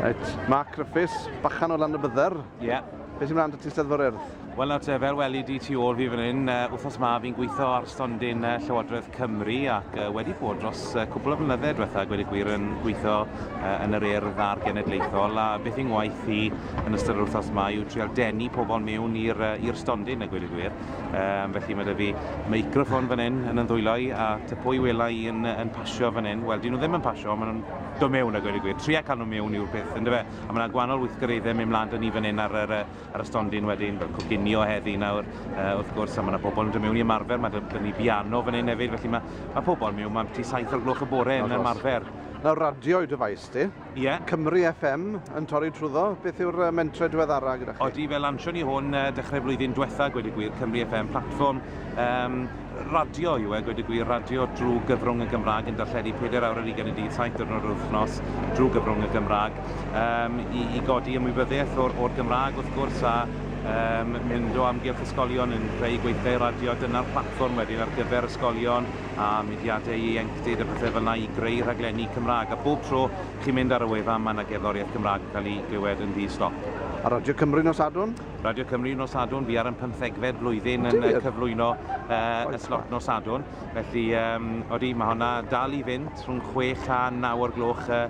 Right, Mark Griffiths, bachan o lan y bydder. Ie. Yeah. Beth sy'n mynd ti steddfo'r urdd? Wel nawr te, fel weli di tu ôl fi fan hyn, uh, wythnos ma fi'n gweithio ar stondin uh, Llywodraeth Cymru ac uh, wedi bod dros uh, cwbl o flynydde diwetha, gwedi gwir yn gweithio uh, yn yr urdd a'r genedlaethol a beth i'n waith i yn ystod yr wythnos ma yw trial denu pobl mewn i'r uh, stondin a gwedi gwir. Um, felly mae dy fi meicroffon fan hyn yn ymddwylo i a ty pwy wela i yn, yn pasio fan hyn, wel dyn nhw ddim yn pasio, maen nhw'n dod mewn a gweud y gwir. Tria cael nhw mewn yw'r peth, yn dyfe? A mae yna gwahanol weithgareddau mynd mlaen dyn ni fan hyn ar, ar, ar y stondin wedyn, fel coginio heddi nawr, uh, wrth gwrs, a mae yna pobl yn dod mewn i ymarfer, mae dyn ni biano fan hyn hefyd, felly mae, mae pobl mewn, mae'n ti saith o'r gloch y bore yn ymarfer. Na radio i dyfais ti. Ie. Yeah. Cymru FM yn torri trwyddo. Beth yw'r mentre diweddara gyda chi? Odi, fe lansion ni hwn uh, dechrau flwyddyn diwetha, gweud y gwir, Cymru FM platform. Um, radio yw e, gweud y gwir, radio drwy gyfrwng y Gymraeg yn darlledu pedair awr ar ugain y dydd, saith diwrnod yr wythnos, drwy gyfrwng y Gymraeg, um, i, i godi ymwybyddiaeth o'r, or Gymraeg wrth gwrs, a um, mynd o amgylch ysgolion yn creu gweithiau radio, dyna'r platfform wedyn ar gyfer ysgolion a mudiadau ieuenctid a pethau fel yna i greu rhaglenni Cymraeg. A bob tro chi'n mynd ar y wefan, mae yna gerddoriaeth Gymraeg yn cael ei glywed yn ddi-stop. A Radio Cymru nos Sadwrn? Radio Cymru nos Sadwrn, fi ar yn pymthegfed blwyddyn yn uh, cyflwyno uh, y slot nos Sadwrn. Felly, um, odi, mae hwnna dal i fynd rhwng 6 a 9 o'r gloch uh,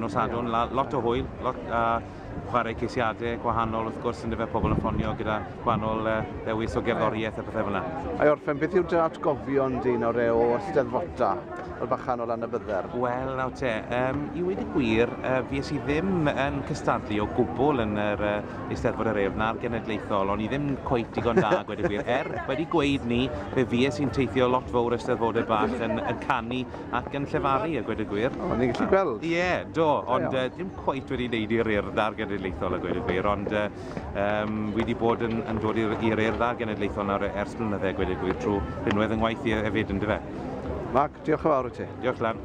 nos Sadwrn. Yeah. Lot o hwyl, lot a uh, chwarae ceisiadau gwahanol wrth gwrs yn dyfa pobl yn ffonio gyda gwahanol uh, ddewis o gerddoriaeth a pethau fyna. Ai orffen, beth yw dy atgofion di nawr e o ysteddfota? y bachan o lan y bydder? Wel, nawr te, um, i wedi gwir, uh, fi es i ddim yn cystadlu o gwbl yn yr uh, Eisteddfod yr Urdd na'r Genedlaethol, o'n i ddim cweit digon da a gweud y gwir. Er, wedi gweud ni, fe fues i'n teithio lot fowr Eisteddfodau bach yn, yn canu ac yn llefaru a gweud y gwir. O, ni'n gallu gweld. Ie, yeah, do, ond uh, ddim cweit wedi wneud i'r Urdd a'r Genedlaethol a gweud y gwir, ond uh, um, fi wedi bod yn, yn dod i'r Urdd a'r Genedlaethol nawr e, ers blynydde a gweud y gwir trwy rhinwedd yng ngwaith i e, efyd, yn dyfe? Mark, diolch yn fawr i ti. Diolch, Lan.